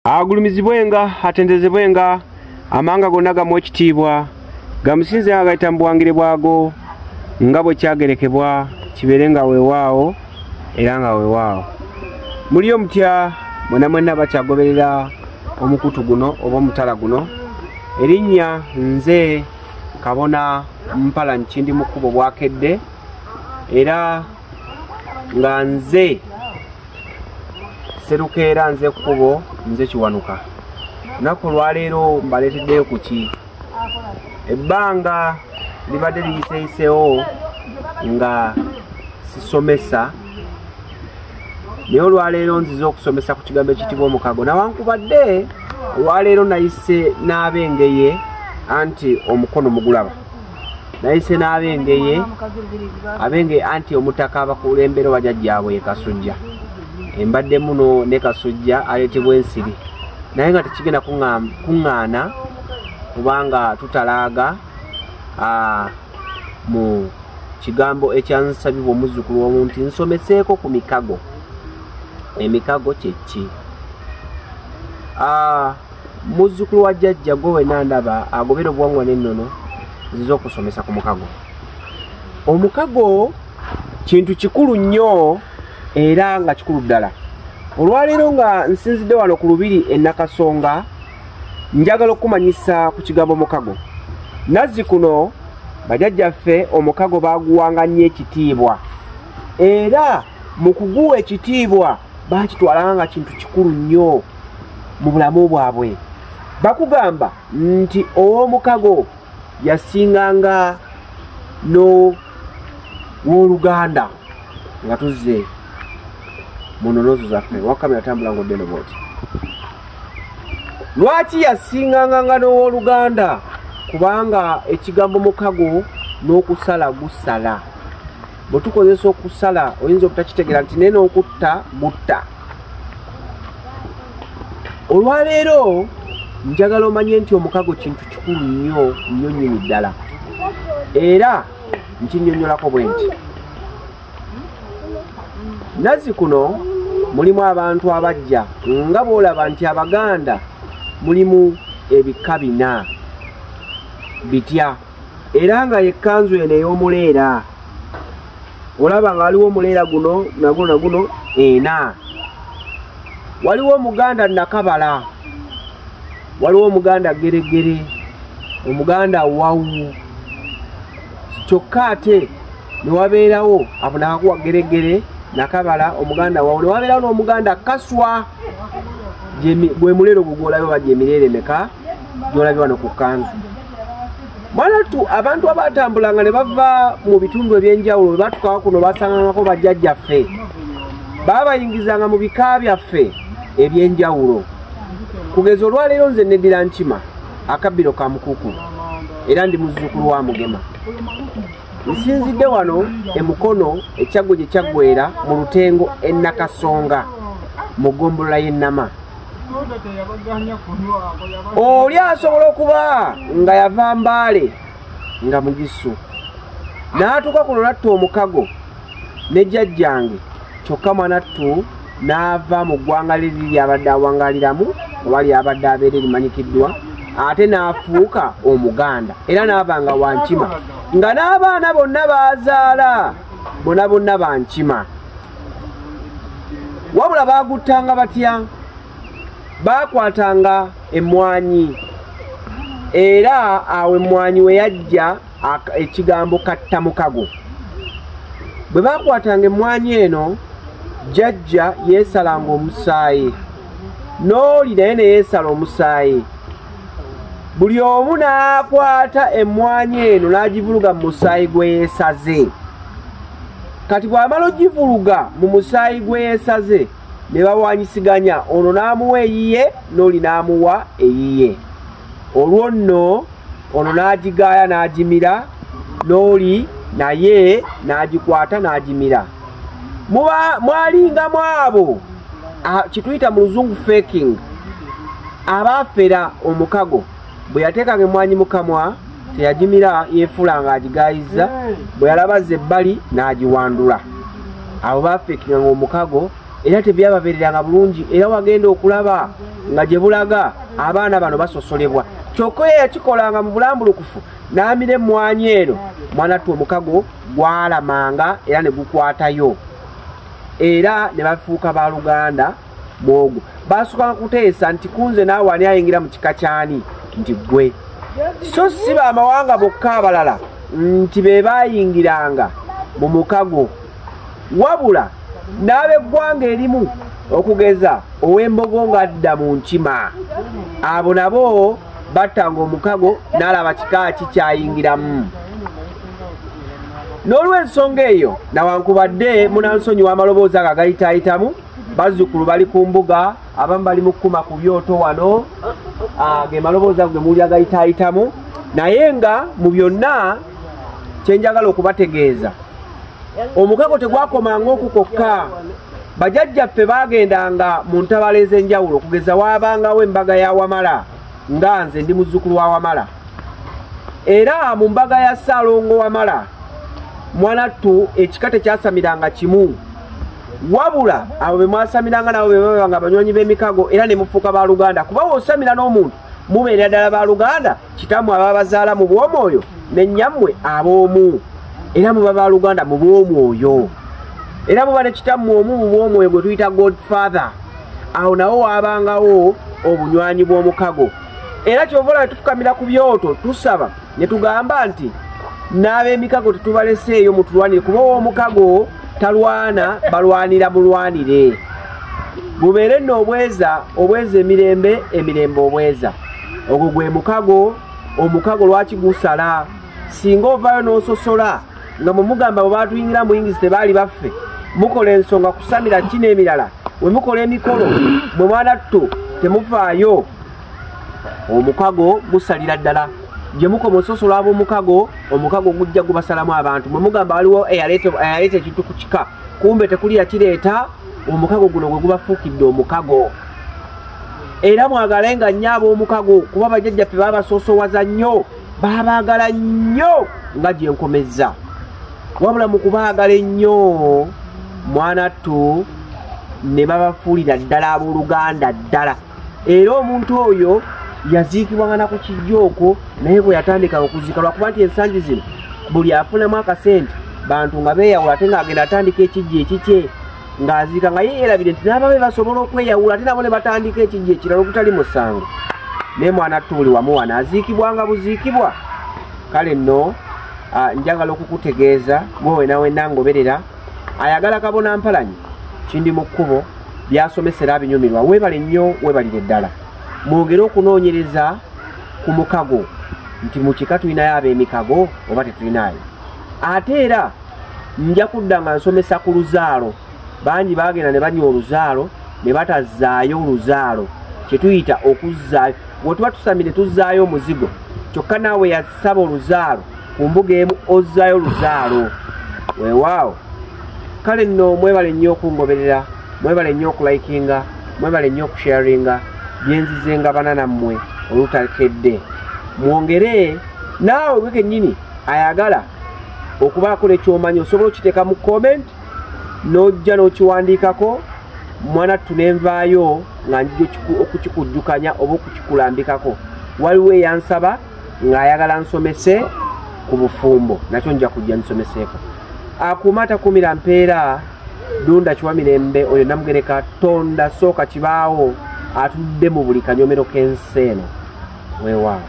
agulumizibwenga atendezebwenga amanga gonna gamu ekitiibwa gamusinze nga gayita mu buwangire bwago nga bwe kyagerekebwa kibeere nga weewaawo era nga weewaawo muliyo mutya mwena mwenna bakyagoberera omukutu guno oba omutala guno erinnya nze kabona mpala nkindi mu kkubo bwakedde era nga nze serukeera nze kkubo nze kiwanuka lunaku olwaleero mbaleeteddeyo ku ki ebbanga libadde liyiseyiseewo nga sisomesa naye olwaleero nziza okusomesa ku kigambo ekitibwa omukago nawankubadde olwaleero nayise n'abengeye anti omukono mugulaba nayise n'abengeye abengeye anti omutaka abakulembera oba jajjaabwe ye kasujja embadde muno ne kasujja aleetebwa ensiri naye nga tekigenda kuŋŋaana kubanga tutalaaga mu kigambo ekyansabibwa omuzzukulu omu nti nsomeseeko ku mikago emikago kyekki muzzukulu wa jjajja gwe wena ndaba agobera obuwangwa n'ennono ziza okusomesa ku mukago omukago kintu kikulu nnyo era nga kikulu ddala olwaleero nga nsinzidde wano ku lubiri enakasonga njagala okukumanyisa ku kigambo mukago nazzi kuno bajajjaffe omukago baguwanga nnyo ekitiibwa era mu kuguwa ekitiibwa bakitwalanga nga kintu kikulu nnyo mu bulamu bwabwe bakugamba nti ow'omukago yasinganga n'owoluganda nga tuzze mu nonozo zaffe wakamera tambula nga oddeno bwoti lwaki yasinganga nga n'owoluganda kubanga ekigambo mukago n'okusala gusala bwe tukozesa okusala oyinza obutakitegera nti naye n'okutta mutta olwaleero njagala omanye nti omukago kintu kikulu nnyo nnyo nnyini ddala era nkinyonyolako bwe nti nazi kuno mulimu abantu abajja nga bwolaba nti abaganda mulimu ebika bina bitya era nga yekkanzu eno ey'omuleera olaba nga waliwo omuleera guno naguno naguno ena waliwo omuganda nakabala waliwo omuganda geregere omuganda wawu kyokka ate newabeerawo abonakakuwa geregere nakabala omuganda wawu newabeerawo n'omuganda kaswa gwe muleero gugwolabye oba gyemireere meka gyolabye wano ku kanzu mwanattu abantu abatambulanga ne bava mu bitundu ebyenjawulo bwe batukawo kuno basangangako bajjajjaffe baabayingizanga mu bika byaffe ebyenjawulo kugeza olwaleero nze nedira nkima akabbiro ka mukuku era ndi muzzukulu wa mugema nsinzidde wano emukono ekyaggwe gye kyaggwera mu lutengo ennakasonga mu ggombolola y'ennama oli asobola okuba nga yava mbaale nga mugisu n'atuuka ku lulatta omukago ne jjajjange kyokka mwanattu n'ava mu ggwanga liri lyabadde awangaliramu oba lyabadde abeera erimanyikiddwa ate n'afuuka omuganda era n'aba nga wankima nga n'abaana bonna baazaala bona bonna bankima wabula baaguttanga batya baakwatanga emmwanyi era awo emmwanyi we yajja ekigambo katta mukago bwe baakwatanga emmwanyi eno jjajja yeesalanga omusaayi n'oli naye ne yeesala omusaayi buli omu n'akwata emmwanyi eno n'agivuluga mu musaayi gwe yeesaze kati bw'amala ogivuluga mu musaayi gwe yeesaze ne bawanyisiganya ono n'amuwa eyiye n'oli n'amuwa eyiye olwo nno ono n'agigaaya n'agimira n'oli naye n'agikwata n'agimira mwalingamu abo kituyita mu luzungu faking abaafera omukago bwe yateekanga emmwanyi mu kamwa teyagimira yeefuula ng'agigaayizza bwe yalabazza ebbali n'agiwandula abo baafeekinga ng'omukago era tebyababeereranga bulungi era wagenda okulaba nga gye bulaga abaana bano basosolebwa kyokka oyo yakikolanga mu bulambulukufu n'amira emmwanyi eno mwana ttu omukago gwalamanga era ne gukwatayo era ne bafuuka ba luganda bwogo baasukanga kuteesa nti kunze naawe ani ayingira mu kika kyani nti ggwe so si bamawanga bokka abalala nti be baayingiranga mu mukago wabula n'abeggwanga erimu okugeza ow'embogo ng'adda mu nkima abo nabo battanga omukago n'alaba kika ki kyayingiramu n'olw'ensonga eyo nawankubadde munansonyi w'amaloboozi ago agayitaayitamu bazzukulu bali ku mbuga abamu bali mu kukuma ku byoto wano ah, ge malobooza ge muwulira gayitaayitamu naye nga mu byonna kyenjagala okubategeeza omukago tegwakomanga oku kokka bajajjaffe baagendanga mu ntabala ez'enjawulo okugeza waabangawo embaga ya wamala nga nze ndi muzzukulu wa wamala era mu mbaga ya ssaalongo wamala mwanattu ekika tekyasamiranga kimu wabula abo be mwasamiranga nabo be babanga abanywanyi b'emikago era ne mufuuka ba luganda kuba wosamira n'omuntu mubeera ddala ba luganda kitammwe aba bazaala mu bw'omwoyo ne nnyammwe ab'omu era muba ba luganda mu bw'omwoyo era muba ne kitammwe omu mu bw'omwoyo gwe tuyita god father awo nawo waabangawo obunywanyi bw'omukago era kyova olaba tufukamira ku byoto tusaba ne tugamba nti n'ab'emikago tetubaleseeyo mutulwanire kuba ow'omukago talwana balwanira mulwanire bubeere nno obweza obweza emirembe emirembe obweza ogwo gwe mukago omukago lwaki gusala singa ovaayo n'ososola nga mumugamba bwe batuyingira muyingizi tebaali baffe mukola ensonga kusamira ki n'emirala we mukola emikolo mwe mwanattu temuvaayo omukago gusalira ddala gye mukoma ososola ab'omukago omukago gujja gubasalamu abantu mwe mugamba waliwo eyaleeta ekintu ku kika kumbe tekuli yakireeta omukago guno gwe gubafuukidde omukago era mwagale nga nnyo ab'omukago kuba bajajjaffe babasoosowaza nnyo babaagala nnyo nga gye nkomezza wabula mu kubaagala ennyo mwana ttu ne babafuulira ddala ab'oluganda ddala era omuntu oyo yaziikibwa nga naku kijja okwo naye bwe yatandika okuziika lwakuba nti ensangi zino buli afunamu akasente bantu nga beeyawula ate ng'agenda atandika ekijja ekikye ng'aziika nga ye yeerabire nti n'ababe basobola okweyawula ate nabo ne batandika ekijja ekirala okutali musango naye mwana attu buli wamu wano aziikibwa nga buziikibwa kale nno ah, njagala okukutegeeza gwe wenawenna ngoberera ayagala kabona mpalanyi kindi mu kkubo byasomesera abinyumirwa webale nnyo webalire ddala mwongere okunoonyereza ku mukago nti mu kika tulinayo ab'emikago oba tetulinayo ate era nja kudda nga nsomesa ku luzaalo bangi bagenda ne banywa oluzaalo ne batazaayo oluzaalo kyetuyita okuzzaayo wetuba tusami ne tuzzaayo omuzigo kyokka naawe yasaba oluzaalo ku mbuga emu ozzaayo oluzaalo weewaawo kale nno mwebale nnyo okungoberera mwebale nnyo okulikinga mwebale nnyo okusharinga byenzize nga bana nammwe olutakedde mwongere naawe gwe kennyini ayagala okubaako nekyomanyi osobola okiteeka mu comment n'ojja n'okiwandiikako mwanattu nenvaayo nga njija okukikujjukanya oba okukikulambikako waliwo eyansaba ng'ayagala nsomese ku bufumbo nakyo nja kujja nsomeseeko akuuma atakuumira mpeera dunda kiwa mirembe oyo namugereka tonda sooka kibaawo atudde mu buli kanyomero k'ensi eno weewaawo